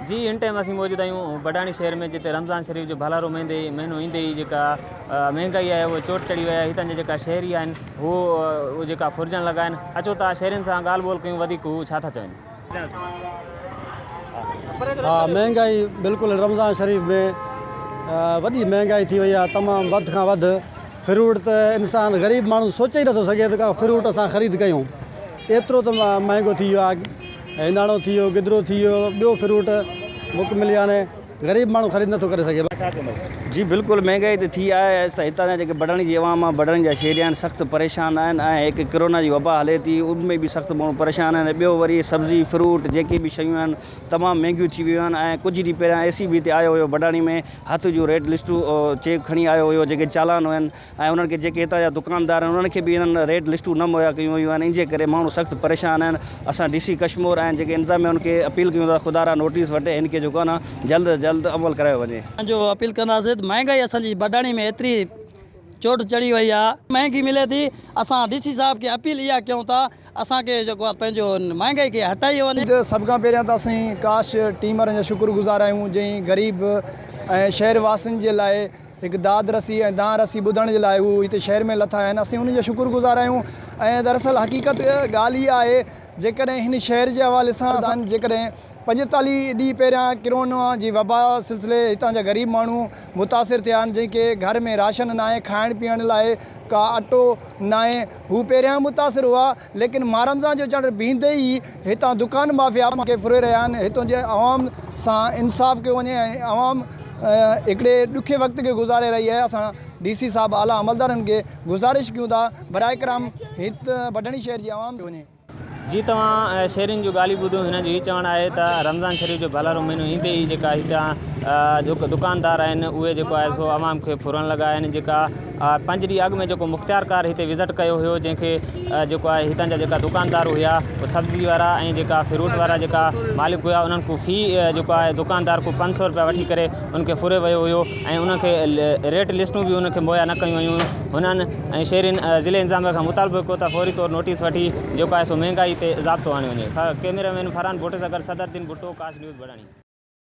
جي هن ٽائيم اسين موجود آهيون بڊاڻي شهر ۾ جتي رمضان شريف جو ڀلارو مهندي مهينو ايندي ئي جيڪا مهنگائي آهي اهو چوٽ چڙهي وئي آهي هتان جا جيڪا شهري آهن هو اهو جيڪا ڦرجڻ لڳا آهن اچو ته شهرين سان ڳالهه ٻولهه ڪيون وڌيڪ هو ڇا ٿا چون ها مهنگائي بلڪل رمضان شريف ۾ وڏي مهنگائي ٿي وئي آهي تمام وڌ کان وڌ فروٽ ته انسان غريب ماڻهو سوچي ئي نٿو سگهي ته ڪا فروٽ اسان خريد ڪيون ايترو ته مهانگو ٿي ويو آهي. هنداڻو ٿي ويو، گدرو ٿي ويو، ٻيو فروٽ مڪمل يعني غريب ماڻهو خريد نٿو ڪري سگهي. ڇا چوندؤ؟ جي بلڪل مهانگائي ته ٿي آهي ته هتان جا جيڪي بڙاڻي جي عوام آهي بڙاڻي جا شهري آهن سخت پريشان آهن ۽ هڪ ڪرونا جي وبا هلي ٿي ان ۾ به سخت ماڻهو پريشان آهن ۽ ٻيو وري سبزي فروٽ جيڪي به شيون آهن تمام مهانگيون ٿي ويون آهن ۽ ڪجهه ڏينهن پهريان اي سي بي هتي آيو هيو بڙاڻي ۾ هٿ جو ريٽ لسٽون چيڪ کڻي آيو هيو جيڪي چالان هين ۽ انهن کي جيڪي هتان جا دڪاندار آهن انهن کي به انهن ريڊ لسٽون نه مهيا ڪيون ويون آهن ان جي ڪري ماڻهو سخت پريشان آهن اسان ڊي سي ڪشمور ۽ جيڪي انتظاميا ان کي اپيل ڪيون ٿا خدا را نوٽيس وٺي هن کي جيڪو آهي نه جلد از جلد عمل ڪرايو وڃي. اسان جو اپيل ڪنداسين ته مهانگائي اسان جي بڊاڻي ۾ ايتري چوٽ چڙهي وئي آهي مهانگي ملي ٿي اسان ڊي سي صاحب کي اپيل اها ڪيون ٿا اسان کي جيڪو آ پنهنجو مهانگائي کي هٽائي وڃي. سڀ کان پهريان ته اسين ڪاش ٽيم وارن جا شڪر گذار آهيون جنهن غريب ۽ شهر واسين جي لاء هڪ داد رسي ۽ دانهن رسي ٻڌڻ جي لاء هو هتي شهر ۾ لٿا آهن اسين انهن جا شڪر گذار آهيون ۽ دراصل حقيقت ڳالهه هيء آهي جيڪڏهن هن شهر جي حوالي سان اسان جيڪڏهن پنجيتاليهه ڏينهن پهريان ڪرونا جي وبا سلسلي هتان جا غريب ماڻهو متاثر ٿيا آهن جنهن کي گهر ۾ راشن ناهي کائڻ پيئڻ لاء ڪا اٽو ناهي هو پهريائين متاثر هئا، ليڪن مارمزان جو چڙ بيهندي ئي هتان دڪان مافيا کي ڦري رهيا آهن، هتون جي عوام سان انصاف ڪيو وڃي ۽ عوام هڪڙي ڏکي وقت کي گذاري رهي آهي، اسان ڊي سي صاحب اعليٰ عملدارن کي گذارش ڪيون ٿا برائي ڪرم هت بڊهڻي شهر جي عوام کي وڃي. جي توهان شيرين جون ڳالهيون ٻڌو، هنن جو هي چوڻ آهي ته رمضان شريف جو ڀلارو مهينو ايندي ئي جيڪا هتان جيڪو دڪاندار آهن اهي جيڪو آهي سو عوام کي ڦرڻ لڳا آهن جيڪا پنج ڏينهن اڳ ۾ جيڪو مختيارڪار هتي وزٽ ڪيو هيو جنهن کي جيڪو آهي هتان جا جيڪا دڪاندار هيا اهي سبزي وارا ۽ جيڪا فروٽ وارا جيڪا مالڪ هيا انهن کان في جيڪو آهي دڪاندار کان پنج سو روپيا وٺي ڪري ان کي ڦري ويو هيو ۽ ان کي ريٽ لسٽون به ان کي مهيا نه ڪيون ويون هيون هنن ۽ شهرين ضلعي انتظاميه کان مطالبو ڪيو ته فوري طور نوٽيس وٺي جيڪو آهي سو مهنگائي تي ضابطو آڻيو وڃي. ڪئميرا مين فرحان ڀٽ سگهر صدر الدين ڀٽو ڪاش نيوز بڙاڻي.